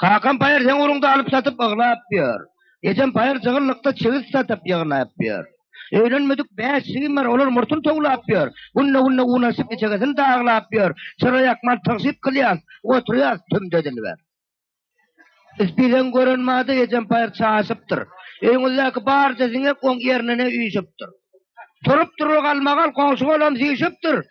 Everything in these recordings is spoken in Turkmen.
Kakam paýyr seň uruňda alyp-satyp yglap ýör. Ejem paýyr jygyllykda çigit satyp ýygnap ýör. Öýlenmedik bäş jigim bar, olar murtuny towlap ýör. Günde-günde un açyp içegesini daglap ýör. Çyra ýakman tygşyt kylýas, oturýas tümde dilber. Isbileň gören bady ejem paýyr çaşypdyr. Öýüňizdäki barja siňek oň ýerine-ne üýşüpdir. Turup-turul galmagal goňşy bolam süýşüpdir.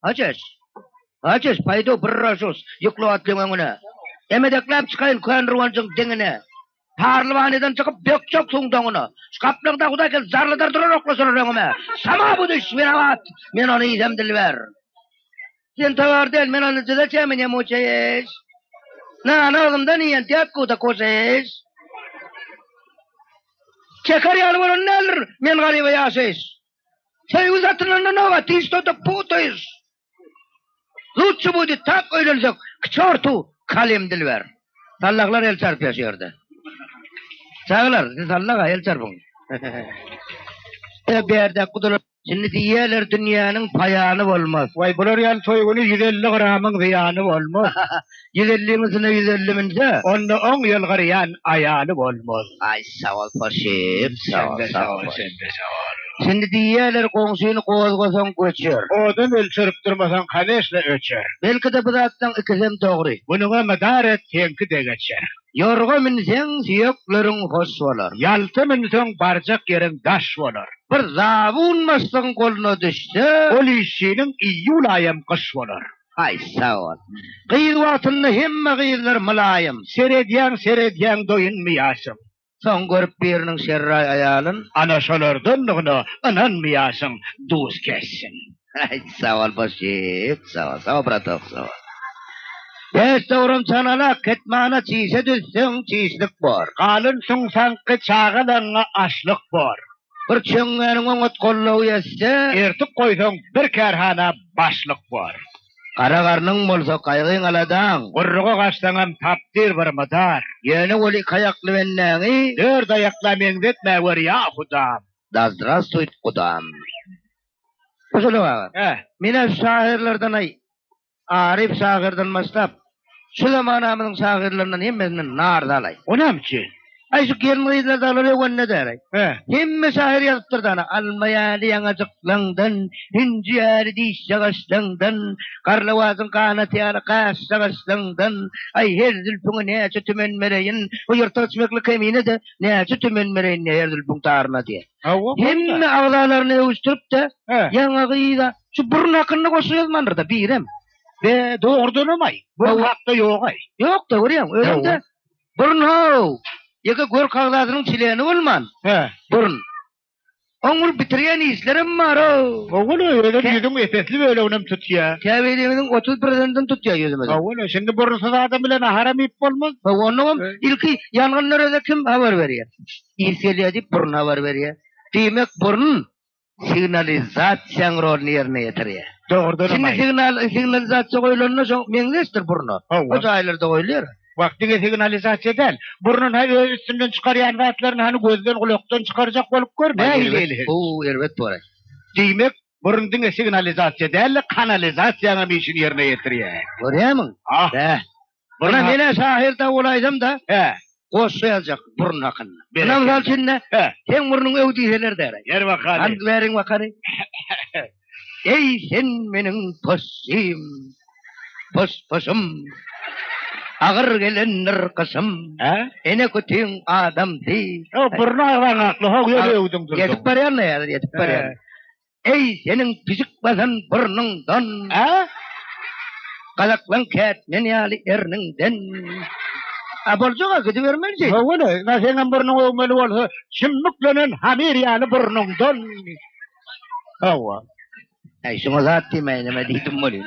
Hajes! Hajes, paýdo bir ražus, ýykla atlyň öňüne. Emedekläp çykaýyn kön ruwanjyň diňine. Parlwanydan çykyp, dökjek suwuň doňuna. Şu gaplaň daguda gel, zarlydyr duran oklasalar öňüme. Sama bu düş, men abat, men ony idem dilber. Sen towar del, men ony dyza çenmi ne muçaýeş. Nany agzymdan iýen, dek guda koşaýeş. Çeker ýaly bolan däldir, men garyba ýaşaýş. Söý uzatylanda nobat işde de putaýyş. Lutçy budi tak öýlensek, k çortu kalim dilber. Sallahlar el çarpýar şu ýerde. Çagalar, siz sallaha el çarpyň. Ýa berde gudylar Şimdi diýýärler dünýäniň paýany bolmaz. Waý bular ýaly toý güni ýüz elli gramyň zyýany bolmaz. Ýüz elliň üstüne ýüz elli münse, onda oň ýylgyrýan aýaly bolmaz. Aý sagol Poşip, sagol sagol. Sende sagol. Şindi diýýäler, goňşyny gozgasaň göçer. Odun ölçerip durmasaň kaneşna öçer. Belki-de bu zatlaň ikisem dogry. Munyňa mydar et, seňki de geçer. Ýorga münseň süýekleriň hoş bolar. Ýalta münseň barjak ýeriň daş bolar. Bir zabun başlygyň goluna düşse, ol işçiniň iýul aýam gyş bolar. Haý, sag bol. Gyz wagtynda hemme gyzlar mylaýym, seredýäň, seredýäň, doýunmaýarsyň. Soň görüp biriniň şerraý aýalyn, ana şolardandygyna ynanmaýarsyň, duz kessin. Haý, sag bol, boş gep. Sag bol, sag bol, bratok, sag bol. Pes dogran çanalak, ketmana çişe düzseň, çişlik bor. Galyn suňsaňky çagalaryňa açlyk bor. Bir çöňňäniň oňat gollugy ýetse. Ertik goýsaň, bir kärhana başlyk bor. Gara garnyň bolsa, gaýgyň-aladaň. Gurruga gaçsaňam, tapdyr bir mydar. Ýöne ol iki aýakly bendäňi. Dört aýakla meňzetme gör, ýa hudam! Da zdrastwuýt, gudam! Guşulak aga, men-ä şahyrlardan-aý. Aryf şagyrdan başlap, şu zamanamyzyň şagyrlaryndan hemmesinden nar dalaý. O näme üçin? Aý şu gelin-gyzlar dalar öwende däraý. Hemme şahyr ýazypdyr dana. Alma ýaly ýaňajyklaňdan, hünji ýaly dişjagaşlaňdan, garlawazyň ganaty ýaly gaşjagaşlaňdan, aý her zülpüňe näçe tümen bereýin, bu ýyrtygyç mekli kemine-de näçe tümen bereýin diýýär her zülpüň taryna diýýär. Hemme agzalaryny öwüşdirip-de, ýaňa gyza Şu burun hakynda goşgy ýazmandyr-da birem. Be, dogrudanam-aý, bu hakda ýog-aý. Ýok-da, görýäňmi, özüm-de burun-how, ýeke gör kagzadynyň çileni bolman, he, burun. Oňňulyp bitirýän işlerim bar-ow. Owal özem ýüzüň epesli böleginem tutýar. Käbirimiziň otuz birden-den tutýar ýüzümizi. Owal, şindi burunsyz adam bilen naharam iýip bolmaz. Hawa, onnoňam ilki ýangynlara-da kim habar berýär? Is gelýär diýip, burun habar berýär. Diýmek, burun signalizasiýanyň roluny ýerine ýetirýär. Dogrudanam aýdym. Şindi signal, signalizasiýa goýulanda şo meňzeşdir burna. Hawa. O jaýlarda goýulýar. Wah, diňe signalizasiýa däl. Burnun ha öz üstünden çykarýan zatlaryny hany gözden, gulakdan çykarjak bolup gör, nähili eli. Bu erbet bolar. Diýmek, burun diňe signalizasiýa däl-de, kanalizasiýanyň hem işini ýerine ýetirýär. Görýärmiň? Hah. Bäh. Ynha, men-ä şahyr dawulaýsam-da, hä, goşgy ýazjak burun hakynda. Ynha, mysal üçin-de, hä, seň burnuň öw diýseler däräý. Ber wakany. Hany, beriň wakany. Eý, sen meniň possym, poss-possum. Agyr gelendir gyşym. Hä? Ene kütiň adamsy. Ýok, burny agzaň hakly, ho, ýöne öwdüň durduň. Ýetip barýan-da häzir, ýetip barýan. Eý, seniň pijik basan burnuňdan. A? Galaklaň kät men ýaly erniňden. A boljag-a, gidibermeli jeý. Howwala, ýa seňem burnuň öwmeli bolsa, çümmüklenen hamir ýaly burnuňdan. Howwa. Äý, şuňa zat diýmäýin, neme diýdim welin.